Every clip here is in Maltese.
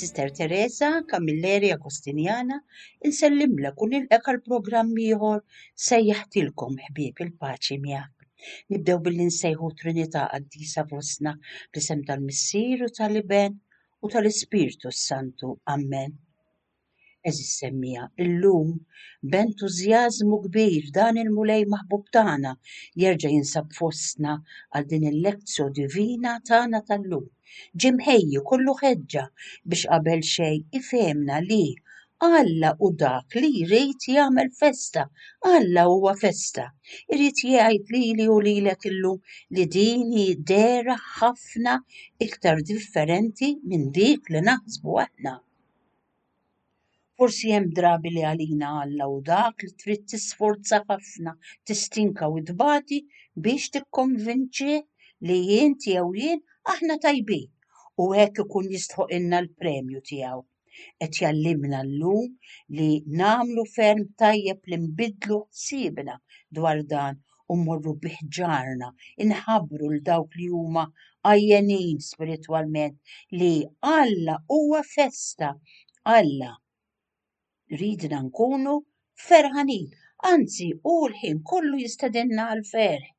Sister Teresa Camilleri Agostinjana, insellimlek u nilqek għal programm ieħor sejjaħtilkom ħbieb il-paċi miegħek. Nibdew billi nsejħu Trinità qaddisa fostna bl-isem tal-Missier u tal-Iben u tal-Ispirtu s-Santu. Amen. Eżis semmija, illum b'entużjażmu kbir dan il-mulej maħbub tagħna jerġa' jinsab fostna għal din il-lezzjo divina tagħna tal-lum. Ġimħejju kollu ħeġġa biex qabel xejn ifehmna li Alla hu dak li jrid jagħmel festa. Alla huwa festa. Irid jgħid lili u lilek illum li din hi dera ħafna iktar differenti minn dik li naħsbu aħna. Forsi hemm drabi li għalina Alla hu dak li trid tisforza ħafna, tistinka u tbati biex tikkonvinċi li jien jew jien aħna tajbin u hekk ikun jistħoq inna l-premju tiegħu. Qed jgħallimna llum li nagħmlu ferm tajjeb li nbiddlu ħsiebna dwar dan u mmorru bih ġarna, inħabbru l dawk li huma għajjenin spiritwalment li Alla huwa festa. Alla ridna nkunu ferħanin, anzi hu l-ħin kollu jistedinna għal ferħ.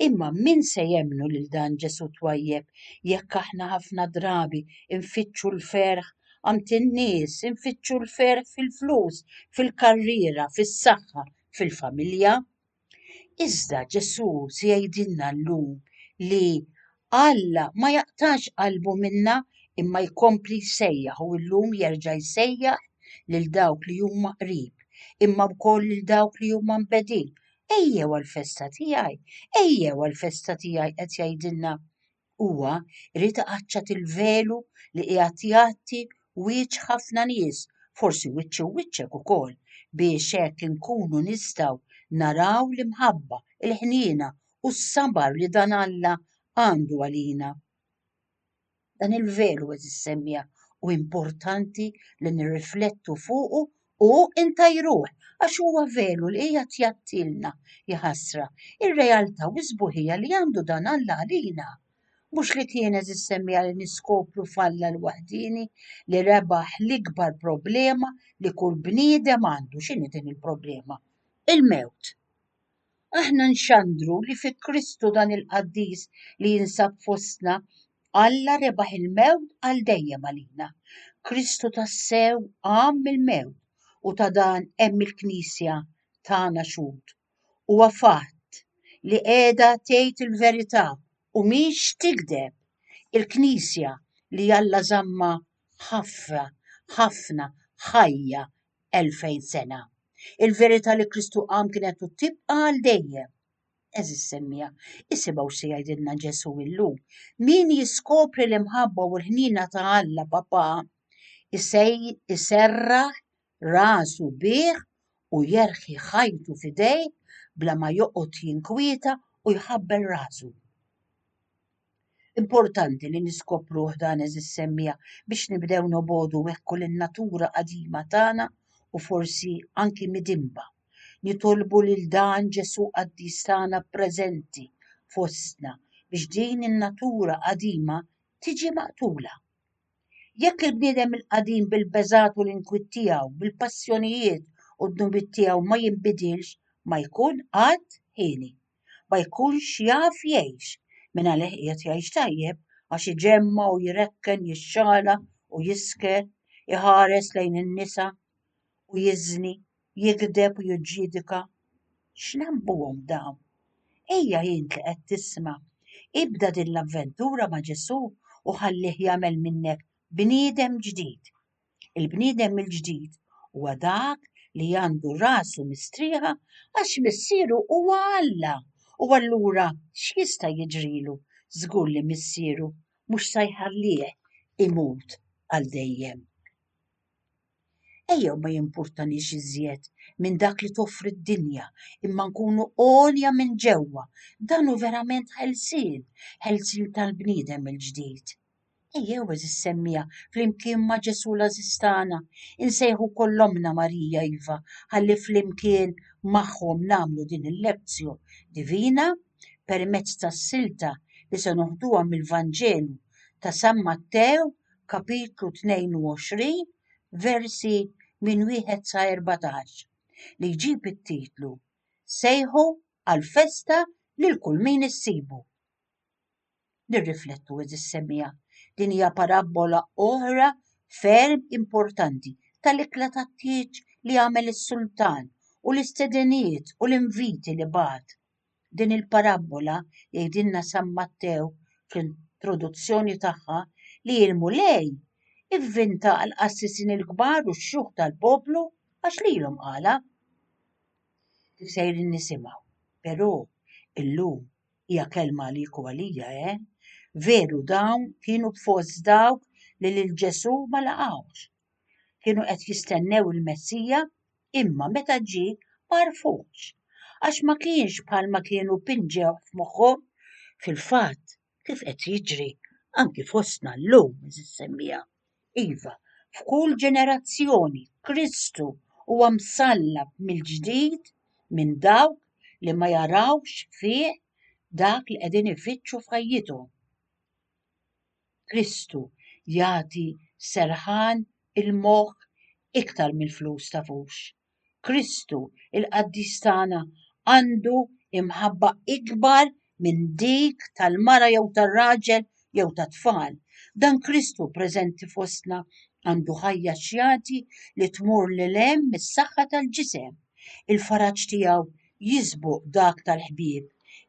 Imma min se jemmnu lil dan Ġesù twajjeb jekk aħna ħafna drabi nfittxu l-ferħ għand in-nies, infittxu l-ferħ fil-flus, fil-karriera, fis-saħħa, fil-familja? Iżda Ġesù se jgħidilna llum li Alla ma jaqtax qalbu minna imma jkompli jsejjaħ u llum jerġa' jsejjaħ lil dawk li huma qrib, imma wkoll lil dawk li huma mbegħdin, Ejjew għall-festa tiegħi, ejjew għall-festa tiegħi qed jgħidilna Huwa, irid iqaċċat il-velu li qiegħed jgħatti wieġ ħafna nies, forsi wiċċi u wiċċek ukoll, biex hekk inkunu nistgħu naraw l-imħabba, il-ħniena u s-sabar li dan Alla għandu għalina. Dan il-veru qed issemmija u importanti li nirriflettu fuqu u intajruh għax huwa veru li hija tjattilna jħassra ir-realtà u sbuħija li għandu dan Alla għalina. Mhux li kienet issemmija li niskopru falla l-waħdini li rebaħ l-ikbar problema li kull bniedem għandu x'inhi din il-problema? Il-mewt. Aħna nxandru li fi Kristu dan il-qaddis li jinsab fostna, Alla rebaħ il-mewt għal dejjem għalina. Kristu tassew qam mill-mewt u ta' dan hemm il-Knisja tagħna xhud. Huwa fatt li qiegħda tgħid il-verità u mhix tigdeb. Il-Knisja li Alla żammha ħafna, ħafna, ħajja 2000 sena. Il-verità li Kristu qam kienet u tibqa' għal dejjem. Eżis semmija, isimgħu x'se jgħidilna Ġesù illum. Min jiskopri l-imħabba u l-ħniena ta' Alla Papa iserraħ rasu bih u jerħi ħajtu f'idejh bla ma joqgħod jinkwieta u jħabbel rasu. Importanti li niskopruh dan eżis semmija biex nibdew nobodu wekku lin-natura qadima tagħna u forsi anki midinba. Nitolbu lil dan Ġesù qaddis tagħna preżenti fostna biex din in-natura qadima tiġi maqtula. Jekk il-bniedem il-qadim bil-beżgħat u l-inkwiet tiegħu, bil-passjonijiet u d-dnubiet tiegħu ma jinbidilx, ma jkun qatt ħieni. ma jkunx jaf jgħix, min għalih qiegħed jgħix tajjeb għax iġemma' u jrekken, jixxala u jisker, iħares lejn in-nisa u jiżni, jigdeb u jiġġidika. X'nambuhom dawn? Ejja int li qed tisma', ibda din l-avventura ma' Ġesù u ħallih jagħmel minnek bniedem ġdid. Il-bniedem mill-ġdid huwa dak li għandu rasu mistrieħa għax missieru huwa Alla u allura x'jista' jiġrilu? Żgur li missieru mhux sa jħallih imut għal dejjem. Ejjew ma jimpurtanix iżjed minn dak li toffri d-dinja, imma nkunu għolja minn ġewwa. Dan hu verament ħelsien, ħelsien tal-bniedem il-ġdid. Ejjew eżis semmija flimkien ma' Ġesu l-għażiż tagħna, insejħu kollomna Marija iva, ħalli flimkien magħhom nagħmlu din il-Lectio Divina permezz tas-silta li se noħduha mill-Vanġelu ta' San Mattew kapitlu 22 versi minn wieħed sa 14 li jġib it-titlu Sejħu għall-festa lil kull min issibu. Nirriflettu, għeżis semmiegħa, din hija parabbola oħra ferm importanti tal-ikla tat-tieġ li għamel is-sultan u l-istedenijiet u l-inviti li bagħat. Din il-parabbola jgħidilna San Mattew fl-introduzzjoni tagħha li l-Mulej ivvinta għall-qassisin il-kbar u x-xjuħ tal-poplu għax lilhom qala. Kif sejrin nisimgħu, però illum hija kelma li jkun għalija, eh? Veru dawn kienu fost dawk li lil Ġesù ma laqgħux. Kienu qed jistennew il-Messija imma meta ġi ma rfux. Għax ma kienx bħalma kienu pinġew f'moħħhom fil-fatt kif qed jiġri anki fostna llum semmija. Iva, f'kull ġenerazzjoni Kristu huwa msallab mill-ġdid minn dawk li ma jarawx fih dak li qegħdin ifittxu f'ħajjithom. Kristu jagħti serħan il-moħħ iktar mill-flus tafux. Kristu, il-qaddis tagħna, għandu imħabba ikbar minn dik tal-mara jew tar-raġel jew tat-tfal. Dan Kristu preżenti fostna għandu ħajja xjati li tmur lil hemm mis-saħħa tal-ġisem. Il-faraġ tiegħu jisbuq dak tal-ħbieb,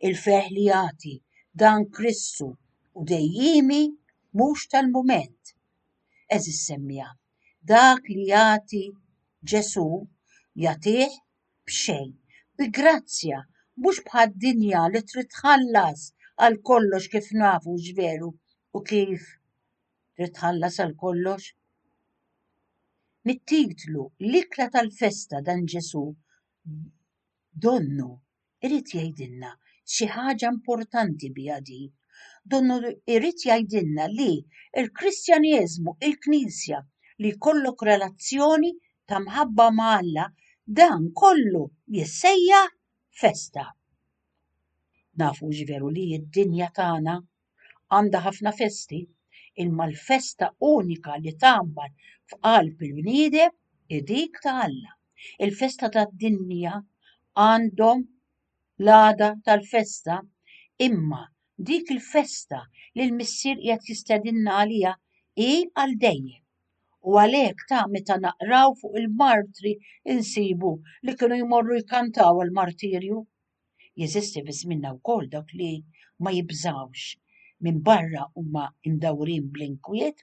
il-ferħ li jagħti dan Kristu u dejjiemi mhux tal-mument. Għeżież semmiegħa, Dak li jagħti Ġesù jagħtih b'xejn, bi grazzja, mhux bħad-dinja li trid tħallas għal kollox kif nafu x'veru u kif trid tħallas għal kollox. Mit-titlu L-ikla tal-festa dan Ġesù donnu irid jgħidilna xi ħaġa importanti biha din. Donnu irid jgħidilna li l-Kristjaneżmu, il-Knisja, li jkollok relazzjoni ta' mħabba ma' Alla, dan kollu jissejja festa. Nafu veru li d-dinja tagħna għandha ħafna festi, imma l-festa unika li tgħammar f'qalb il-bniedem hi dik ta' Alla. Il-festa tad-dinja għandhom l-għada tal-festa, imma dik il-festa li l-Missier qiegħed jistedinna għaliha hi għal dejjem. U għalhekk ta' meta naqraw fuq il-martri insibu li kienu jmorru jkantaw għall-martirju Jeżisti fi żmienna wkoll dawk li ma jibżgħux, minbarra huma mdawrin bl-inkwiet,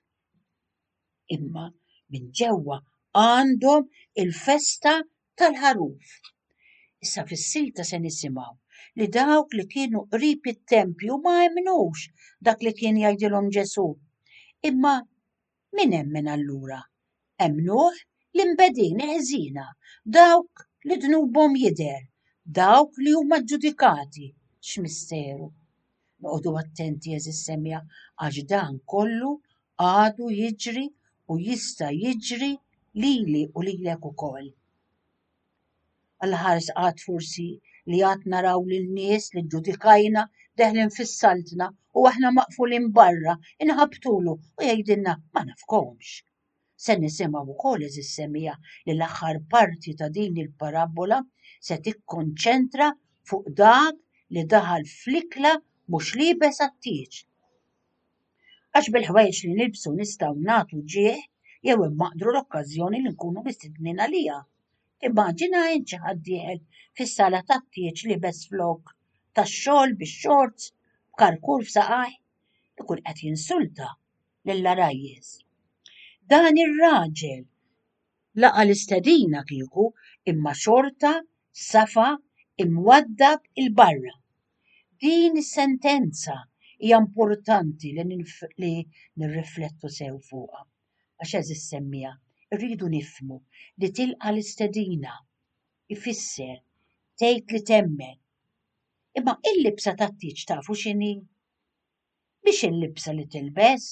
imma minn ġewwa għandhom il-festa tal-Ħaruf. Issa fis-silta se nisimgħu li dawk li kienu qrib it-tempju ma emmnux dak li kien jgħidilhom Ġesù, imma Min emmen allura? Emmnuh l-inbedin ħżiena, dawk li dnubhom jidher, dawk li huma ġġudikati. X'misteru! Noqogħdu attenti għeżież semja għax dan kollu għadu jiġri u jista' jiġri lili u lilek ukoll. Għall-ħars għad forsi li għad naraw lin-nies li ġġudikajna deħlin fis-saltna u aħna maqfulin barra, inħabbtulu u jgħidilna ma nafkomx. Se nisimgħu wkoll eżiż semija li l-aħħar parti ta' din il-parabbola se tikkonċentra fuq dak li daħal fl-ikla mhux liebes għat-tieġ. Għax bil-ħwejġ li nilbsu nistgħu nagħtu ġieħ jew immaqdru l-okkażjoni li nkunu mistednin għaliha. Immaġina int xi ħadd dieħel fis-sala tat-tieġ liebes flok tax-xogħol bix-shorts b'karkur f'saqajh. Ikun qed jinsulta lill-għarajjiż. Dan ir-raġel laqa' l-istedina kieku imma xorta safa imwaddab 'il barra. Din is-sentenza hija importanti li nirriflettu sew fuqha. għax għeż issemmieha, irridu nifhmu li tilqa' l-istedina jfisser tgħid li temmen. Imma il-libsa tat-tieġ tafu x'inhi? Mhix il-libsa li tilbes.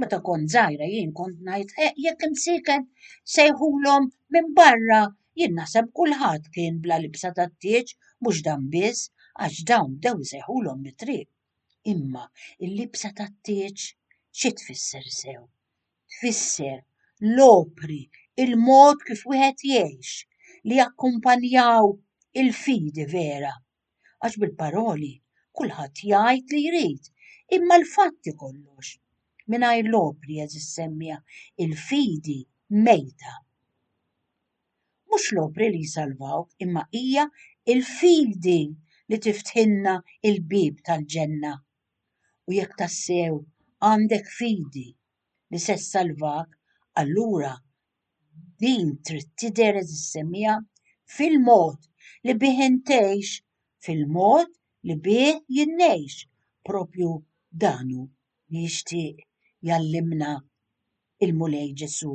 Meta kont żgħira jien kont ngħid eh, jekk imsiekel sejħulhom minn barra, jien naħseb kulħadd kien bla libsa tat-tieġ mhux dan biss għax dawn bdew isejħulhom mit-triq. Imma l-libsa tat-tieġ xi tfisser sew? Tfisser l-opri, il-mod kif wieħed jgħix, li jakkumpanjaw il-fidi vera. Għax bil-paroli kulħadd jgħid li jrid, imma l-fatti kollox. Mingħajr l-opri, għeżież semmie, il-fidi mejta. Mhux l-opri li jsalvaw, imma hija l-fidi li tiftħilna l-bieb tal-ġenna. U jekk tassew għandek fidi li se ssalvak, allura din trid tidher eżissemmija fil-mod li bih intgħix, fil-mod li bih jien ngħix. Proprju dan hu li jixtieq jgħallimna l-Mulej Ġesù.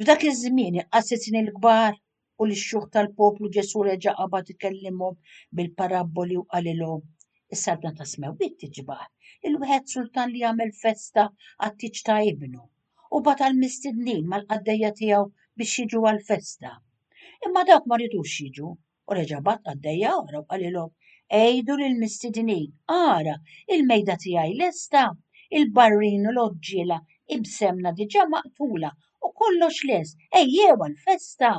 F'dak iż-żmien il-qassisin l-kbar u l-xjuħ tal-poplu Ġesù reġa' qabad ikellimhom bil-parabboli u qalilhom, Is-Saltna tas-smewwiet tiġbah lil wieħed sultan li jagħmel festa għat-tieġ ta' ibnu, u bagħat għall-mistednin mal-qaddejja tiegħu biex jiġu għall-festa. Imma dawk ma ridux jiġu, U reġa' bagħat qaddejja oħra u qalilhom, Għidu lill-mistidnin, ara, il-mejda tiegħi lesta, il-barrin u l-għoġġiela ibsemna diġà maqtula u kollox lest, ejjew għall-festa!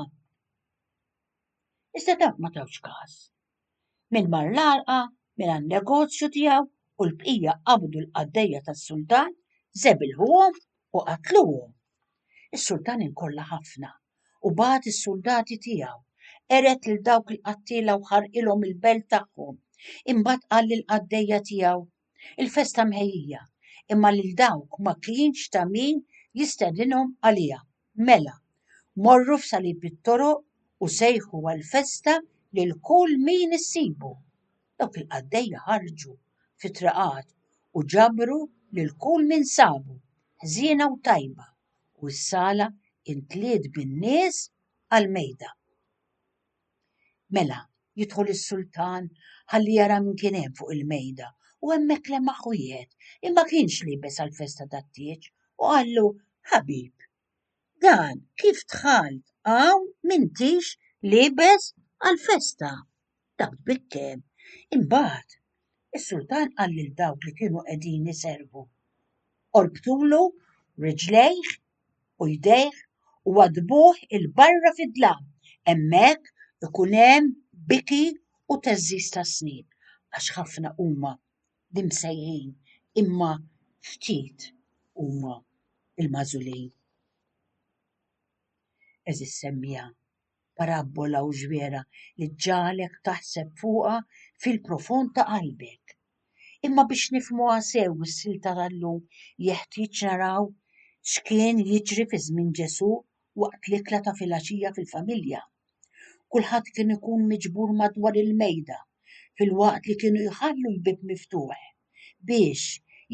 Iżda dawk ma tawx każ. Min mar l-għalqa, min għan-negozju tiegħu u l-bqija qabdu l-qaddejja tas-sultan, żebilħuhom u qatluhom. Is-sultan inkolla ħafna u bagħat is-suldati tiegħu. Qered lil dawk il-qattiela u ħarqilhom il-belt tagħhom. Imbagħad qal lill-qaddejja tiegħu, Il-festa mħejjija, imma lil dawk ma kienx ta' min jistedinhom għaliha. Mela, morru f'salib it-toroq u sejħu għall-festa lil kull min issibu. Dawk il-qaddejja ħarġu fit-triqat u ġabru lil kull min sabu, ħżiena u tajba. u s-sala imtliet bin-nies għall-mejda. Mela, jidħol is-sultan ħalli jara min kien hemm fuq il-mejda u hemmhekk lemaħ wieħed li ma kienx liebes għall-festa tat-tieġ u qallu, Ħabib, dan kif dħalt hawn m'intix liebes għall-festa? Dak bit-tem. Imbagħad, is-sultan qal lil dawk li kienu qegħdin iservu, Orbtulu riġlejh u jdejh u waddbuh 'il barra fid-dlam, hemmhekk ikun hemm biki u theżżiż tas-snien, għax ħafna huma l-imsejħin, imma ftit huma l-magħżulin. Għeżież semmiegħa! Parabbola u ġwiera li ġġagħlek taħseb fuqha fil-profond ta' qalbek. Imma biex nifhmuha sew is-silta tal-lum jeħtieġ naraw x'kien jiġri fi żmien Ġesù waqt l-ikla ta' filgħaxija fil-familja. Kulħadd kien ikun miġbur madwar il-mejda filwaqt li kienu jħallu l-bieb miftuħ biex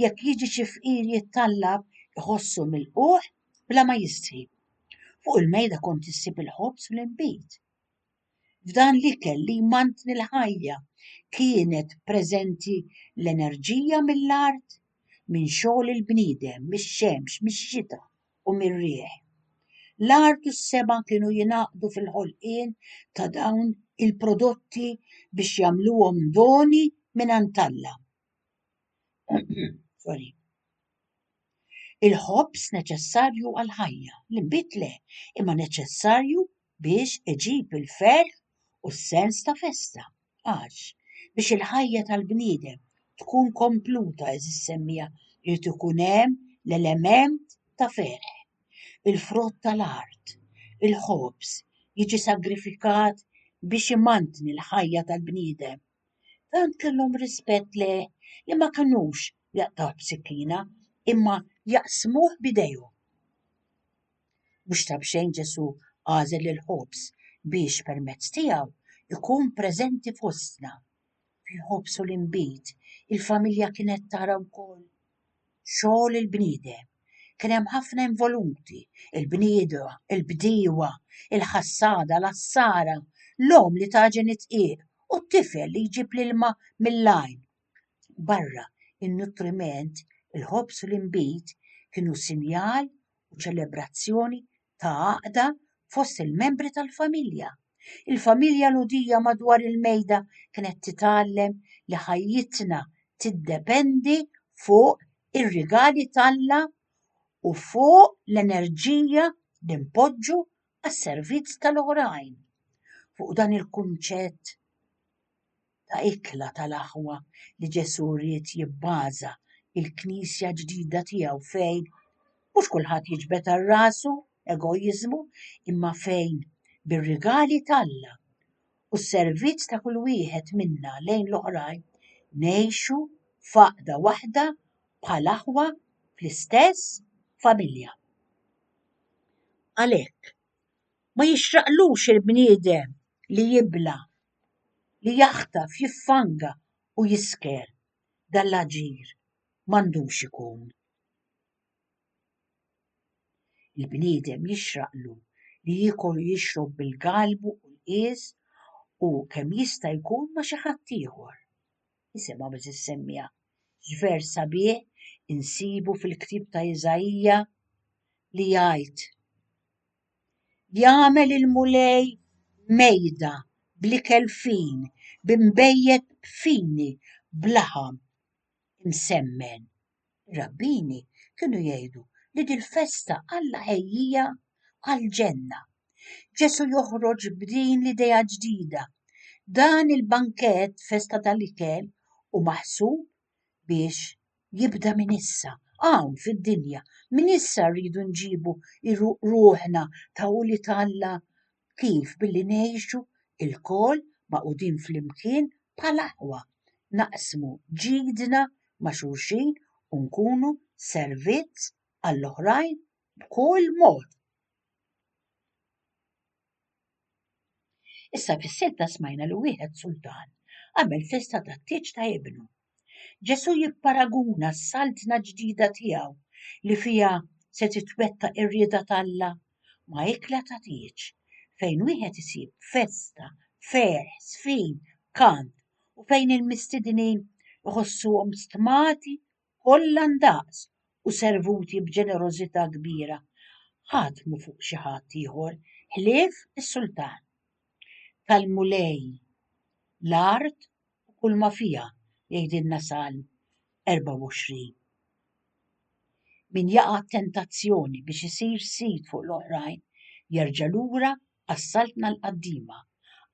jekk jiġi xi fqir jittallab iħossu milqugħ bla ma jistħi. Fuq il-mejda kont issib il-ħobż u l-inbid. F'dan l-ikel li jmantni l-ħajja kienet preżenti l-enerġija mill-art, minn xogħol il-bniedem, mix-xemx, mix-xita u mir-riħ. L-art u s-sema kienu jingħaqdu fil-ħolqien ta' dawn il-prodotti biex jagħmluhom doni minn Alla. Il-ħobż neċessarju għall-ħajja, l-inbid le, imma neċessarju biex iġib il-ferħ u s-sens ta' festa, għax, biex il-ħajja tal-bniedem tkun kompluta, għeżież semmiegħa, irid ikun hemm l-element ta' ferħ. Il-frott tal-art, il-ħobż, jiġi sagrifikat biex imantni l-ħajja tal-bniedem. Tant kellhom rispett le li ma kinux jaqtgħuh b'sikkina imma jaqsmuh b'idejhom. Mhux ta' b'xejn Ġesù għażel il-ħobż biex permezz tiegħu jkun preżenti fostna. Fil-ħobż u l-inbid, il-familja kienet tara wkoll xogħol il-bniedem. Kien hemm ħafna involuti, il-bniedwa, il-bdiewa, il-ħassada, l-għassara, l-omm li tagħġen id-dqiq u t-tifel li jġib l-ilma mill-għajn. Barra in-nutriment, il-ħobż u l-inbid kienu sinjal u ċelebrazzjoni ta' għaqda fost il-membri tal-familja. Il-familja Lhudija madwar il-mejda kienet titgħallem li ħajjitna tiddependi fuq ir-rigali t'Alla u fuq l-enerġija li npoġġu għas-servizz tal-oħrajn. Fuq dan il-kunċett, ta' ikla tal-aħwa li Ġesù ried jibbaża l-Knisja ġdida tiegħu fejn mhux kulħadd jiġbed għal rasu, egoiżmu, imma fejn bir-rigali t'Alla u s-servizz ta' kull wieħed minna lejn l-oħrajn ngħixu f'għaqda waħda bħal aħwa fl-istess familja. Għalhekk, ma jixraqlux il-bniedem li jibla' li jaħtaf, jiffanga u jisker. Dan l-aġir m'għandux ikun. Il-bniedem jixraqlu li jiekol u jixrob bil-galbu u l-qies u kemm jista' jkun ma' xi ħadd ieħor. Isimgħu biss is-semmiegħa x'vers sabiħ insibu fil-ktieb ta' Iżaija li jgħid, Jagħmel il-Mulej mejda bl-ikel fin, bi nbejjed fini b'laħam imsemmen. Ir-rabbini kienu jgħidu li dil-festa Alla ħejjiha għall-ġenna. Ġesù joħroġ b'din l-idea ġdida, Dan il-bankett, festa tal-ikel, hu maħsub biex jibda minn issa, hawn fid-dinja, minn issa rridu nġibu ruħna ta' ulied Alla kif billi ngħixu lkoll magħqudin flimkien bħal aħwa, naqsmu ġidna ma' xulxin u nkunu servizz għall-oħrajn b'kull mod. Issa fis-silta smajna li wieħed sultan għamel festa tat-tieġ ta' ibnu. Ġesù jipparaguna s-saltna ġdida tiegħu li fiha se titwetta ir-rieda t'Alla ma' ikla ta' tieġ fejn wieħed isib festa, ferħ, żfin, kant u fejn il-mistidnin iħossuhom stmati kollha ndaqs u servuti b'ġenerożità kbira, ħatmu fuq xi ħadd ieħor ħlief is-sultan. Tal-Mulej l-art u kulma fiha, jgħidilna Salm 24. Min jaqa' t-tentazzjoni biex isir sid fuq l-oħrajn jerġa' lura għas-saltna l-qaddima,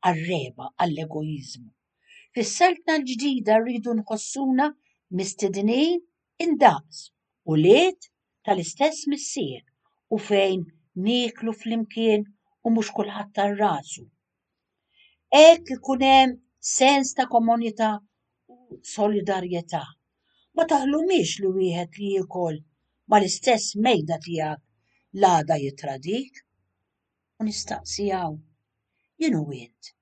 għar-regħba, għall-egoiżmu. Fis-Saltna l-Ġdida rridu nħossuna mistednin indaqs ulied tal-istess Missier u fejn nieklu flimkien u mhux kulħadd għal rasu. Hekk ikun hemm sens ta' komunità u solidarjetà. Ma taħlumiex li wieħed li jiekol mal-istess mejda tiegħek l-għada jitradik. U nistaqsi hawn, jien u int,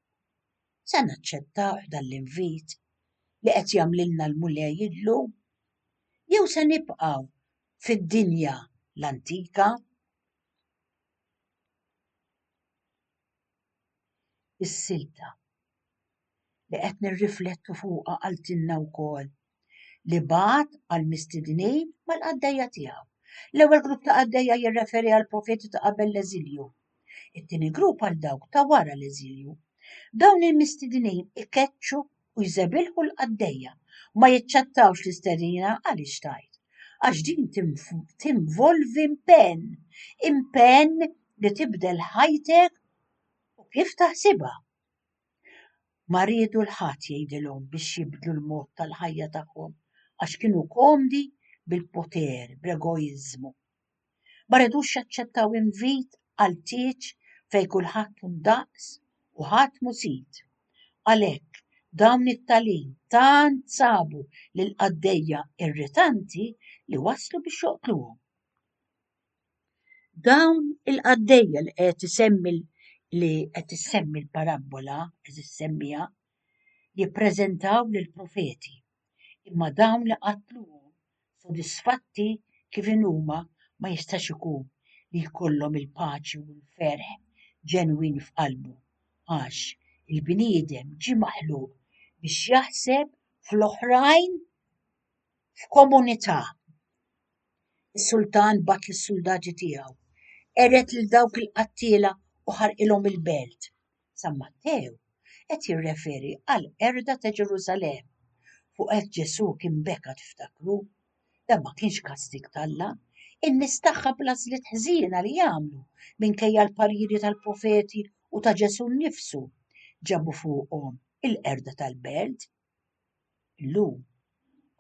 Se naċċettawh dan l-invit li qed jagħmlilna l-Mulej illum? Jew se nibqgħu fid-dinja l-antika? Is-silta li qed nirriflettu fuqha qaltilna wkoll li bagħat għal mistednin mal-qaddejja tiegħu. L-ewwel grupp ta' qaddejja jirreferi għal profeti ta' qabel l-eżilju. It-tieni grupp għal dawk ta' wara l-eżilju. Dawn il-mistednin ikeċċu u jżebilħu l-qaddejja ma jiċċettawx l-istedina għaliex tajt. Għax din tinvolvi impenn, impenn li tibdel ħajtek u kif taħsibha. Ma riedu l ħadd jgħidilhom biex jibdlu l-mod tal-ħajja tagħhom għax kienu komdi bil-poter, bl-egoiżmu. Ma redux jaċċettaw invit għal tieġ fejn kulħadd hu ndaqs u ħadd mhu sid. Għalhekk, dawn it-talin tant sabu lill-qaddejja irritanti li waslu biex joqtluhom. Dawn il-qaddejja li qed isemmi li qed issemmi l-parabbola, qed issemmija, jippreżentaw lill-profeti, imma dawn li qatluhom sodisfatti kif inhuma ma jistax ikun li jkollhom il-paċi u l-ferħ ġenwin f'qalbu, għax il-bniedem ġie maħluq biex jaħseb fl-oħrajn. f'komunità. Is-sultan bat lis-suldati tiegħu, qered lil dawk il-qattiela u ħarqilhom il-belt. San Mattew qed jirreferi għal qerda ta' Ġerusalemm. Fuq hekk Ġesù kien beka tiftakru. Dan ma kienx kastig t'Alla. In-nies tagħha bl-għażliet ħżiena li jagħmlu minkejja l-pariri tal-profeti u ta' Ġesù nnifsu ġabu fuqhom il-qerda tal-belt Illum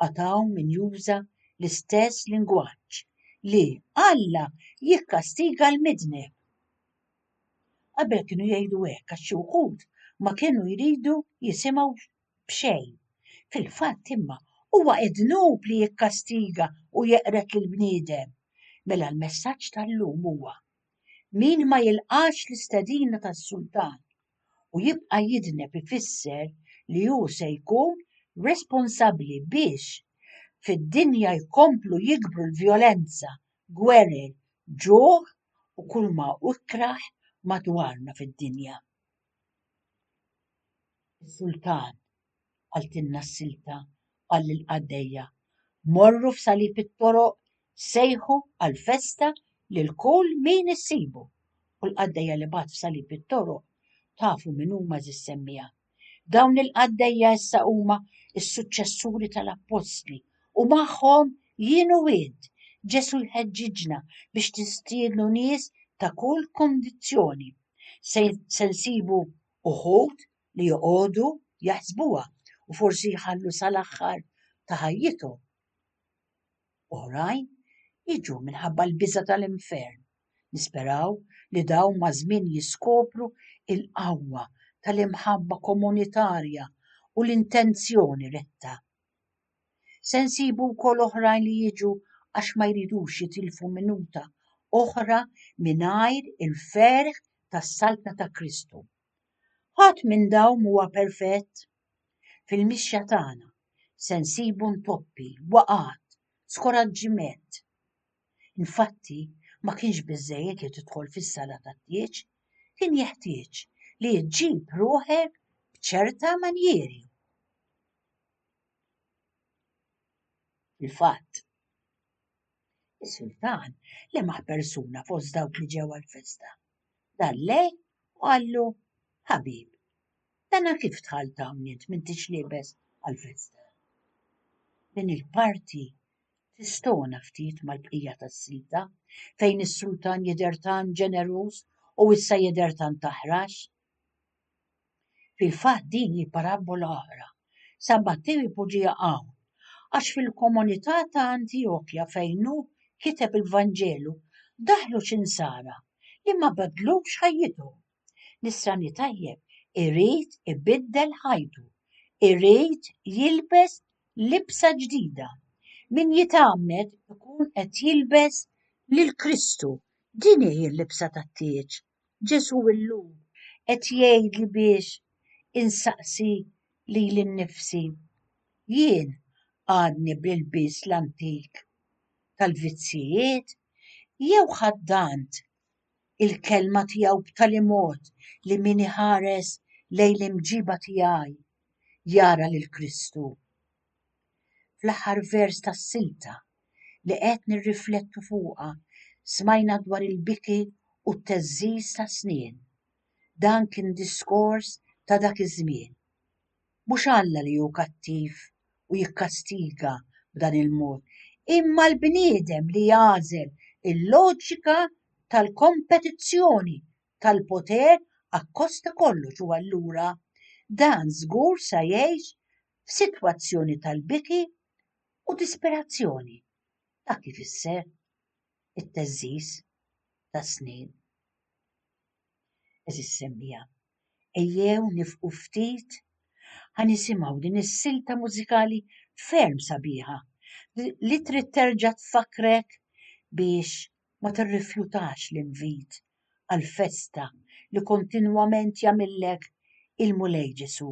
għad hawn min juża l-istess lingwaġġ li Alla jikkastiga l-midneb. Qabel kienu jgħidu hekk għax xi wħud ma kienu jridu jisimgħu b'xejn. Fil-fatt imma huwa idnub li jikkastiga u jeqred lill-bniedem. Mela l-messaġġ tal-lum huwa, Min ma jilqax l-istedina tas-sultan, u jibqa' jidneb ifisser li hu se jkun responsabbli biex fid-dinja jkomplu jikbru l-vjolenza, gwerer, ġuħ u kulma hu ikrah madwarna fid-dinja. Is-Sultan qaltilna s-silta, qal lill-qaddejja, morru f'salib it-toroq sejħu għall-festa lil kull min issibu. U l-qaddejja li bagħat f'salib it-toroq tafu min huma żis-semmiegħa. Dawn il-qaddejja issa huma s-suċċessuri tal-appostli u magħhom jien u int. Ġesù jħeġġiġna biex nistiednu nies ta' kull kundizzjoni. Se nsibu uħud li joqogħdu jaħsbuha u forsi jħallu sal-aħħar ta' ħajjithom. Oħrajn jiġu minħabba l-biża tal-infern. Nisperaw li dawn ma' żmien jiskopru il-qawwa tal-imħabba komunitarja u l-intenzjoni retta. Se nsibu wkoll oħrajn li jiġu għax ma jridux jitilfu minuta oħra mingħajr il-ferħ tas-saltna ta' Kristu. Ħadd minn dawm huwa perfett. Fil-mixja tagħna se nsibu ntoppi, waqgħat, skoraġġiment. Infatti, ma kienx biżżejjed li tidħol fis-sala tat-tieġ, kien jeħtieġ li ġġib ruħek b'ċerta manjieri. Fil-fatt, is-sultan lemaħ persuna fost dawk li ġew għall-festa. Dar lejh u qallu, Ħabib, dana kif dħalt hawn int m'intix liebes għall-festa? Din il-parti tistona ftit mal-bqija tas-silta, fejn is-sultan jidher tant ġeneruż u issa jidher tant aħrax. Fil-fatt din hi parabbola oħra. San Mattew ipoġġiha hawn għax fil-komunità ta' Antjokja fejn hu kiteb il-Vanġelu daħlu xi nsara li ma bedlux ħajjithom. Nisrani tajjeb irid ibiddel ħajtu, irid jilbes libsa ġdida. Min jitgħammed ikun qed jilbes lil Kristu, din hi l-libsa tat-tieġ. Ġesù illum qed jgħidli biex insaqsi lili nnifsi. Jien għadni bl-ilbies l-antik tal-vizzijiet jew ħaddant il-kelma tiegħu b'tali mod li min iħares lejn l-imġiba tiegħi jara lil Kristu? Fl-aħħar vers tas-silta li qed nirriflettu fuqha smajna dwar il-biki u t-theżżiż tas-snien. Dan kien diskors ta' dak iż-żmien. Mhux Alla li hu kattiv u jikkastiga b'dan il-mod, imma l-bniedem li jagħżel il-loġika tal-kompetizzjoni tal-poter akkost ta' kollox u allura dan żgur sa jgħix f'sitwazzjoni tal-biki u disperazzjoni. Dak ifisser it-teżżiż tas-snien. Eżis semmija, ejjew nifqu ftit ħa nisimgħu din is-silta mużikali ferm sabiħa li trid terġa' tfakkrek biex ma tirrifjutax l-invit għall-festa li kontinwament jagħmillek il-Mulej Ġesù.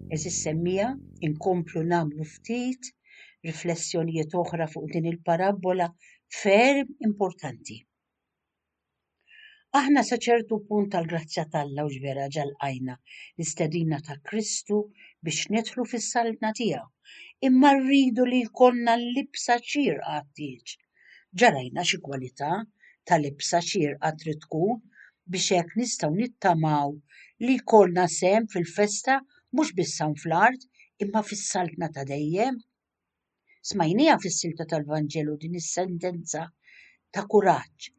Għeżież semmiegħa, inkomplu nagħmlu ftit riflessjonijiet oħra fuq din il-parabbola ferm importanti. Aħna sa ċertu punt tal-grazzja tal-Alla u ġvera ġalqajna l-istedina ta' Kristu biex nidħlu fis-saltna tiegħu. Imma rridu li jkollna l-libsa ċir għattieġ ġarajna xi kwalità ta' libsa xierqa trid tkun biex hekk nistgħu nittamaw li jkollna sehem fil-festa mhux biss hawn fl-art imma fis-Saltna ta' dejjem? Smajnieha fis-silta tal-Vanġelu din is-sentenza ta' kuraġġ,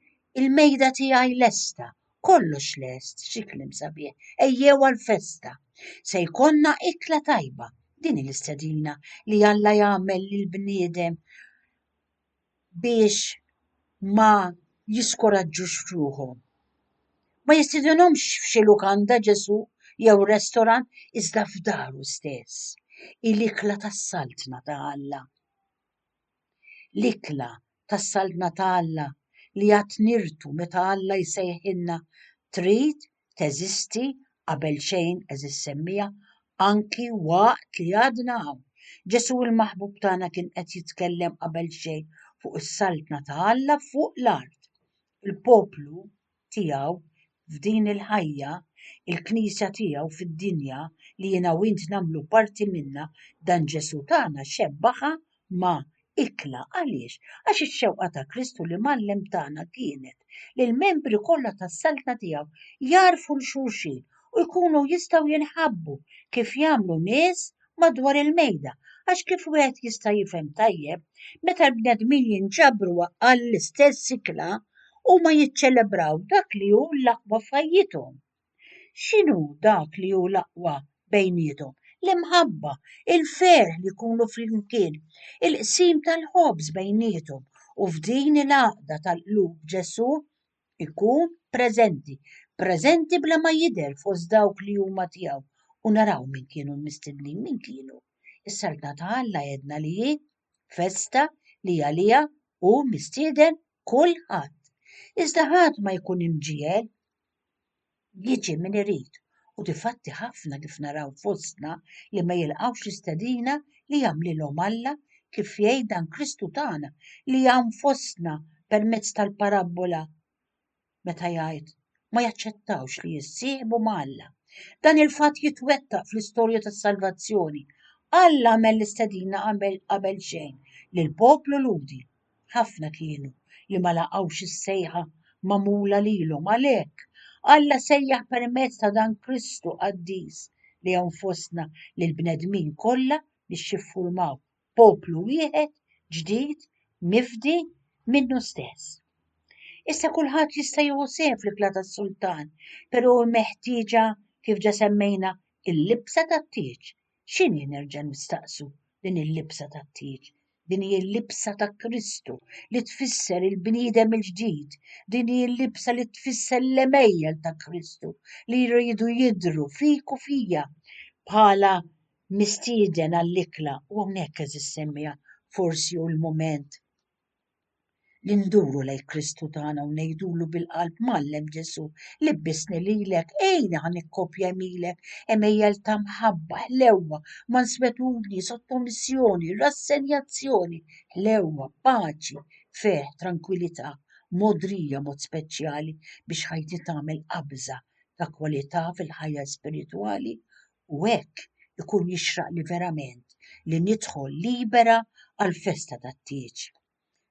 Il-mejda tiegħi lesta, kollox lest, xi kliem sabiħ, ejjew għall-festa. Se jkollna ikla tajba, din hi l-istedina li Alla jagħmel lill-bniedem biex ma jiskuraġġux f'ruħhom. Ma jistidinhomx f'xi lukanda Ġesù jew restorant iżda f'daru stess. Hi l-ikla tas-Saltna ta' Alla. L-ikla tas-Saltna ta' Alla li għad nirtu meta Alla jsejħilna trid teżisti qabel xejn għeżież semmiegħa, anki waqt li għadna hawn. Ġesù l-maħbub tagħna kien qed jitkellem qabel xejn fuq is-saltna ta' Alla fuq l-art. Il-poplu tiegħu f'din il-ħajja, il-Knisja tiegħu fid-dinja li jiena u int nagħmlu parti minnha, dan Ġesù tagħna xebbaha ma' ikla. Għaliex? Għax ix-xewqa ta' Kristu li mgħallem tagħna kienet li l-membri kollha tas-Saltna tiegħu jagħrfu 'l xulxin u jkunu jistgħu jinħabbu kif jagħmlu nies madwar il-mejda. Għax kif wieħed jista' jifhem tajjeb, meta l-bnedmin jinġabru għall-istess ikla, huma jiċċelebraw dak li hu l-aħwa f'ħajjithom. X'inhu dak li hu l-aqwa bejniethom? L-imħabba, il-ferħ li jkunu flimkien, il-qsim tal-ħobż bejniethom u f'din il-għaqda tal-qlub Ġesù jkun preżenti, preżenti bla ma jidher fost dawk li huma tiegħu. U naraw min kienu l-mistednin, min kienu? Is-Saltna ta' Alla għedna li hi festa li għaliha hu mistieden kulħadd. Iżda ħadd ma jkun imġiegħel jiġi min irid u difatti ħafna kif naraw fostna li ma jilqgħux l-istedina li jagħmlilhom Alla kif jgħid dan Kristu tagħna li hawn fostna permezz tal-parabbola meta jgħid ma jaċċettawx li jissieħbu ma' Alla. Dan il-fatt jitwettaq fl-istorja tas-salvazzjoni. Alla għamel l-istedina qabel xejn lill-poplu Lhudi Ħafna kienu li ma laqgħux is-sejħa magħmula lilhom. Għalhekk, Alla sejjaħ permezz ta' dan Kristu qaddis li hawn fostna lil bnedmin kollha biex jiffurmaw poplu wieħed ġdid mifdi minnu stess. Issa kulħadd jista' jieħu sehem fl-ikla tas-sultan, però meħtieġa kif ġa semmejna il-libsa tat-tieġ X'inhi, nerġa' nistaqsu, din il-libsa tat-tieġ? Din hi l-libsa ta' Kristu li tfisser il-bniedem il-ġdid. Din hi l-libsa li tfisser l-għemejjel ta' Kristu li jridu jidhru fik u fija bħala mistieden għall-ikla u hawnhekk eżis semmija forsi hu l-mument li nduru lejn Kristu tagħna u ngħidulu bil-qalb mallem Ġesu, libbisni lilek, ejni ħan ikkopja milek, emejjel ta' mħabba, ħlewwa, manswetudni, sottomissjoni, rassenjazzjoni, ħlewwa, paċi, ferħ, trankwilità, modrija mod speċjali biex ħajti tagħmel qabża ta' kwalità fil-ħajja spiritwali u hekk ikun jixraqli verament li nidħol libera għall-festa tat-tieġ.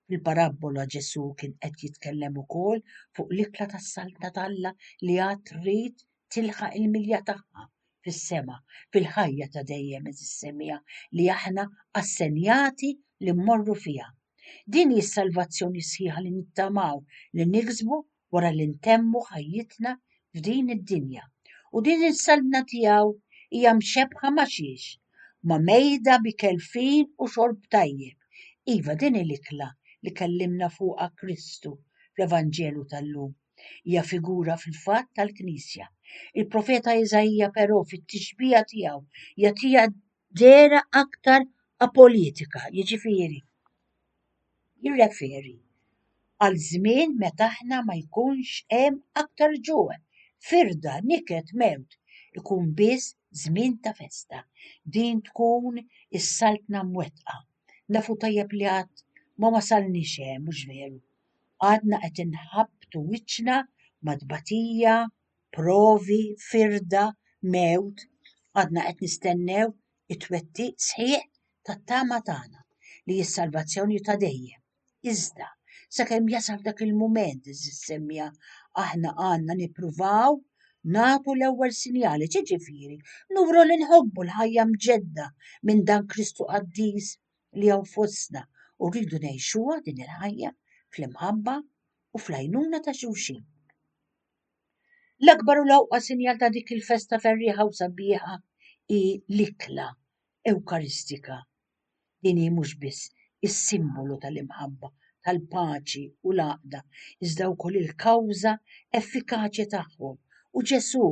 Fil-parabbola Ġesù kien qed jitkellem ukoll fuq l-ikla tas-Saltna t'Alla li għad trid tilħaq il-milja tagħha fis-sema, fil-ħajja ta' dejjem is-semija li aħna assenjati li mmorru fiha. Din hi s-salvazzjoni sħiħa li nittamaw li niksbu wara li ntemmu ħajjitna f'din id-dinja u din is-saltna tiegħu hija mxebbħa ma' xiex? Ma' mejda bi kelfin u xorb tajjeb. Iva din hi l-ikla li kellimna fuqha Kristu fl-Evanġelu tal-lum. Hija figura fil-fatt tal-Knisja. Il-profeta Iżaija però fit-tixbiha tiegħu jagħtiha dera aktar apolitika, jiġifieri jirreferi għal żmien meta aħna ma jkunx hemm aktar ġuħ, firda, niket, mewt, ikun biss żmien ta' festa. Din tkun is-Saltna mwettqa. Nafu tajjeb li għad ma wasalniex hemm, mhux veru? Għadna qed inħabbtu wiċċna ma' tbatija, provi, firda, mewt, għadna qed nistennew it-twettiq sħiħ tat-tama tagħna li hi s-salvazzjoni ta' dejjem. Iżda, sakemm jasal dak il-mument, għeżież semja, aħna għandna nippruvaw nagħtu l-ewwel sinjali, ġiġifieri, nuru li nħobbu l-ħajja mġedda minn dan Kristu qaddis li hawn fostna u rridu ngħixuha din il-ħajja fl-imħabba u fl-għajnuna ta' xulxin. L-akbar u l-ewqa sinjal ta' dik il-festa ferrieħa u sabiħa hi l-ikla Ewkaristika. Din hi mhux biss is-simbolu tal-imħabba, tal-paċi u l-għaqda, iżda wkoll il-kawża effikaċja tagħhom, u Ġesù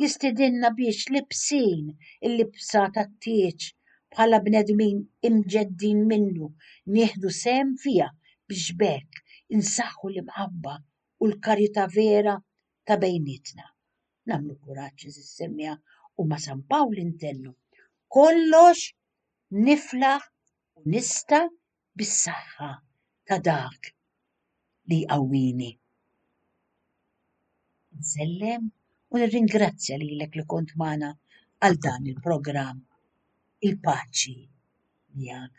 jistidinna biex libsin il-libsa tat-tieġ bħala bnedmin imġeddin minnu, nieħdu sehem fiha biex b'hekk insaħħu l-imħabba u l-karità vera ta' bejnietna. Nagħmlu kuraġġ iżis semmiegħa u ma' San Pawl intennu kollox niflaħ u nista' bis-saħħa ta' dak li jqawwini. Insellem u nirringrazzja lilek li kont magħna għal dan il-programm Il-Paċi Miegħek.